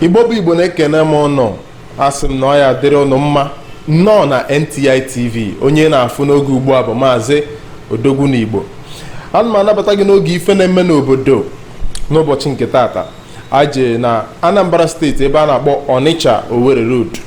igbo bụ igbo na-ekene m ụnụ asị m na ọ ya-adịrị ụnụ mma nnọọ na NTI TV onye ị na-afụ n'oge ugbu a bụ maazị odogwu na igbo ana m anabata gị n'oge ife na-eme n'obodo n'ụbọchị nke taata a jee na anambra steeti ebe a na-akpọ ọnịcha owere road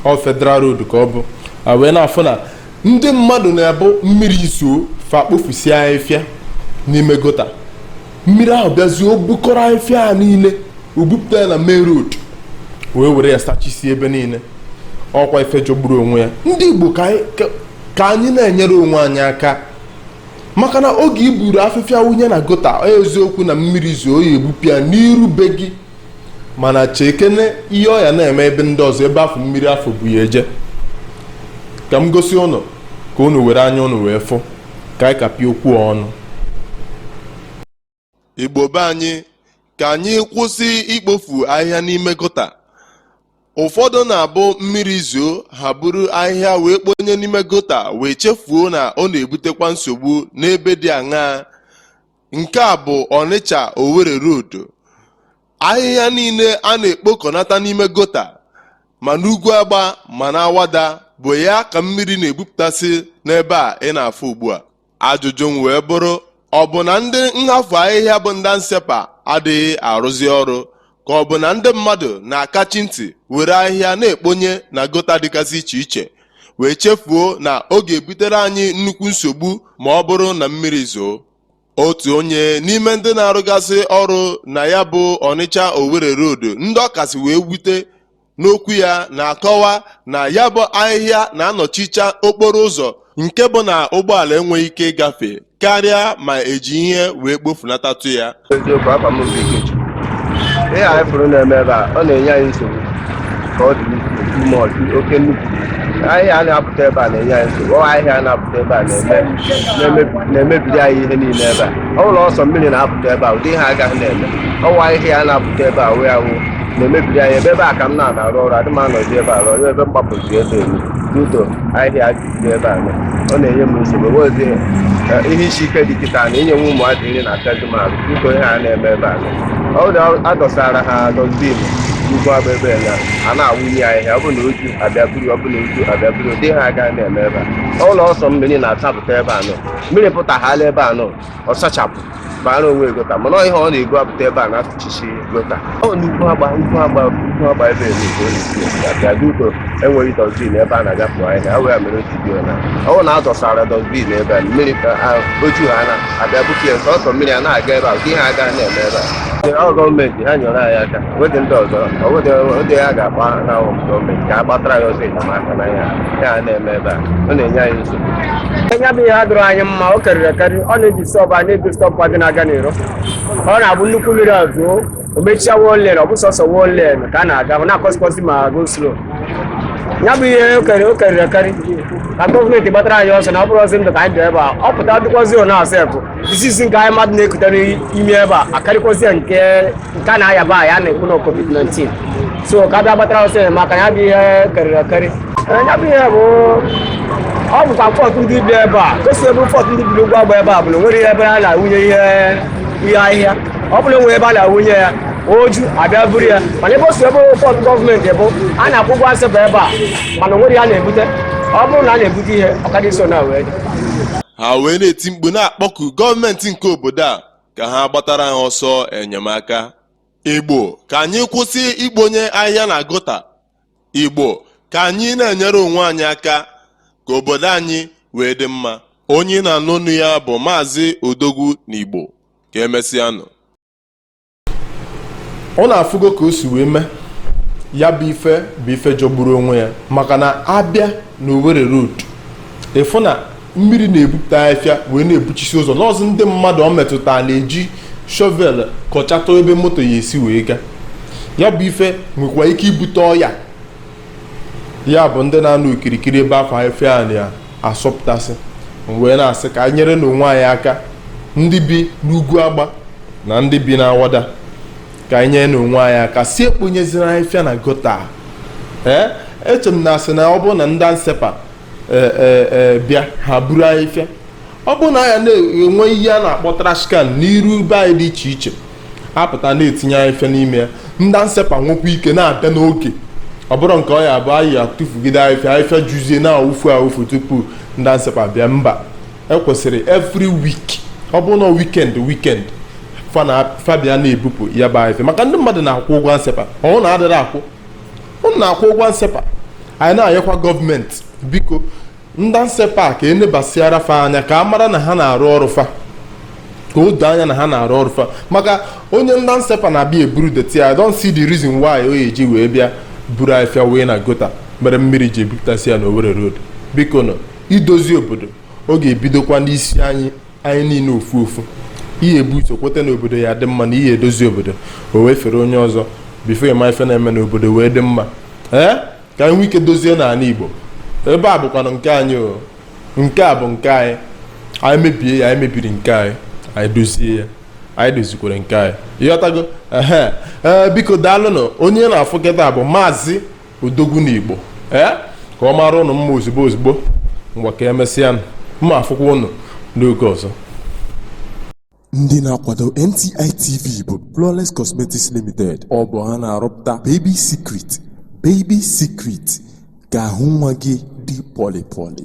ọ federal road ka ọ bụ a wee na-afụ na ndị mmadụ na-abụ mmiri zoo fa kpofusie afịfịa n'ime gota mmiri ahụ bịazie o bukọrọ afịfịa a niile o bupụta ya na main road wee were ya sachisie ebe niile ọ kwa ife jọgburu onwe ya ndị igbo ka anyị- ka- ka anyị na-enyere onwe anyị aka maka na oge i buru afịfịa wụnye na gota ọ eziokwu na mmiri zoo ya ebupụ ya n'iru be gị mana chekene ihe ọ ya na-eme ebe ndị ọzọ ebe afụ mmiri afụ bu ya eje ka m gosi ụnụ ka ụnụ were anya ụnụ wee fụ ka anyị kapịa okwu a ọnụ igbo be anyị ka anyị kwụsị ikpofu ahịhịa n'ime gota ụfọdụ na-abụ mmiri zoo ha buru ahịhịa wee kponye n'ime gota wee chefuo na ọ na-ebutekwa nsogbu n'ebe dị aṅaa nke a bụ ọnịcha owere road ahịhịa niile a na-ekpokọnata n'ime gota ma n'ugwu agba ma n'awada bụ ya ka mmiri na-ebupụtasị n'ebe a ị na-afụ ugbu a Ajụjụ m wee bụrụ, ọ bụ na ndị nhafu ahịhịa bụ ndị ANSEPA adịghị arụzi ọrụ ka ọ bụ na ndị mmadụ na-akachi ntị were ahịhịa na-ekponye na gota dịgasị iche iche wee chefuo na ọ ga-ebutere anyị nnukwu nsogbu ma ọ bụrụ na mmiri zoo? Otu onye n'ime ndị na-arụgasị ọrụ na ya bụ Ọnịcha Owere Road ndị ọ kasị wee wute n'okwu ya na-akọwa na ya bụ ahịhịa na-anọchicha okporo ụzọ nke bụ na ụgbọala enweghị ike ịgafe karịa ma e ji ihe wee kpofunatatụ ya eziokwu afa m bụ Ikechukwu ihe anyị fụrụ na-eme ebe a ọ na-enye anyị nsogbu ka ọ dị n'isi ime ọtụ oke nnukwu ahịhịa a na-apụta ebe a na-enye anyị nsogbu ọ ahịhịa a na-apụta ebe a na-eme na-emebi- na-emebiri anyị ihe niile ebe a ọ bụrụ sọ mmiri na-apụta ebe a ụdị ihe a agaghị na-eme ọ wụ ahịhịa a na-apụta ebe a wee awụ na-emebiri anyị ebe ebe a ka m na-arụ ọrụ adị m anọzi ebe a rụọ ebe m gbapụzi ebe elu due to ahịhịa dị ebe a ọ na-enye m nsogbu wezi ihe isi ike dị kịta na inye nwa ụmụazị nri na akazi m arụ due to ihe a na-eme ebe a ọ na a dọsara ha dustbin ugwu agba ebe na a na-awụnye ahịhịa ọ bụ na o ju a bịa buru ọ bụ na o ju a bịa buru ụdị ihe a agaghị na-eme ebe a ọ bụrụ sọ mmiri na-asapụta ebe a nọ mmiri pụtaghala ebe a nọ ọ sachapụ bara onwe egota mana ihe ọ na-ego apụta ebe a na-atụchisi gota ọ n'ugwu agba ugwu agba ugwu agba ebe ebe ka ọ na-esi abịa dị ụtọ enweghị dustbin ebe a na-agapụ ahịhịa ha wee mere otu dio na ọwụ na azọsara dustbin ebe a mmiri ka oju ha na-abịa bute ya sọsọ mmiri a na-aga ebe a ka ihe aga na-eme ebe a ọ gọọmenti ha nyere anyị aka wedị ndị ọzọ ọwụdị ya ga-akpa na gọọmenti ka a gbatara anyị ọsọ enyemaka na ya ya na-eme ebe a ọ na-enye anyị nya bụ ihe adịrọ anyị mma ọ karịrị akarị ọ na-eji sọbụ a na-ebi sọbụ adị na-aga n'iro ọ na-abụ nnukwu mmiri zoo o mechie one lane ọ bụ sọsọ one lane ka a na-aga ọ na-akọzikwazi ma go slow ya bụ ihe ọ karịrị ọ karịrị akarị ka gọọmenti gbatara anyị ọsọ na ọ bụrọzi ndụ ka anyị dị ebe a ọ pụta dịkwazi ọ na-asepụ disease nke anyị mmadụ na-ekutere ime ebe a akarịkwazie nke nke a na-ayaba a ya na-ekwu na covid-19 so ka bịa gbatara ọsọ enyemaka ya bụ ihe karịrị akarị ya bụ ihe bụ ọ bụkwa fault ndị bi ebe a gosi ebe fault ndị bi ugwu agba ebe ọ bụla nwere ihe ebe a na-awụnye ihe ihe ahịhịa ọ bụla nwere ebe a na-awụnye ya o ju a bịa buru ya mana ebe o si ebe fault gọọmenti bụ a na-akwụ ụgwọ ansepa ebe a mana o nwere ya na-ebute ọ bụrụ na a na-ebute ihe ọ ka dị so na wee ha wee na-eti mkpu na-akpọku gọọmenti nke obodo a ka ha gbatara ha ọsọ enyemaka igbo ka anyị kwụsị ikponye ahịhịa na gota igbo ka anyị na-enyere onwe anyị aka ka obodo anyị wee dị mma onye ị na-anụ onu ya bụ maazị odogwu na igbo ka emesịanụ unu afụgo ka o si wee mee ya bụ ife bụ ife jọgburu onwe ya maka na a bịa na Owerri road ị fụ na mmiri na-ebupụta afịfịa wee na-ebuchisi ụzọ n'ọzọ ndị mmadụ ọ metụtara na-eji shovel kọchata ebe moto ya-esi wee gaa ya bụ ife nwekwa ike ibute ọya ya bụ ndị na-anọ okirikiri ebe afụ afịfịa na-asọpụtasị m wee na-asị ka anyị nyerenụ onwe anyị aka ndị bi n'ugwu agba na ndị bi n'awada ka anyị nyerenụ onwe anyị aka sị ekponyezina afịfịa na gota a. ee eche m na a sị na ọ bụrụ na ndị ansepa ee, ee, ee, bịa ha buru afịfịa ọ bụrụ na anyị na-enwe ihe a na-akpọ trash can n'iru be anyị dị iche iche a pụta na-etinye afịfịa n'ime ya ndị ansepa nwekwa ike na-abịa n'oge ọ bụrọ nke ọ ya-abụ anyị atụfugide afịfịa afịfịa juzie na-awụfu awụfu tupu ndị ansepa bịa mba e kwesịrị every week ọ bụrụ na weekend weekend fa na fa bịa na-ebupụ ya bụ afịfịa maka ndị mmadụ na-akwụ ụgwọ ansepa ọ wụ na adịrọ akwụ unu na-akwụ ụgwọ ansepa anyị na-ayọkwa gọọmenti biko ndị ANSEPA ka e nebasiara fa anya ka a mara na ha na-arụ ọrụ fa ka o doo anya na ha na-arụ ọrụ fa maka onye ndị ANSEPA na-abịa eburu dirty I don't see the reason why o eji wee bịa buru afịfịa wee na gutter mere mmiri ji ebupụtasị ya na Owerri road bikonụ idozi obodo ọ ga-ebidokwa n'isi anyị anyị niile ofu ofu ihe ebu uche kweta na obodo ya dị mma na ihe edozi obodo o wee fere onye ọzọ before ị ma ife na-eme n'obodo wee dị mma ee ka anyị nwee ike dozie n'anị igbo ebe a bụkwanụ nke anyị o nke a bụ nke anyị anyị mebie ya anyị mebiri nke anyị anyị dozie ya anyị dozikwara nke anyị ị ghọtago ehe ee biko daalụnụ onye ị na-afụ kịta bụ maazị odogwu n'igbo ee ka ọ mara ụnụ mma ozugbo ozugbo ngwa ka emesịanụ m ma-afụkwa ụnụ n'oge ọzọ Ndị na-akwado NTI TV bụ Flawless Cosmetics Limited. Ọ bụ ha na-arụpụta Baby Secret, Baby Secret ka ahụ nwa gị dị pọlị pọlị.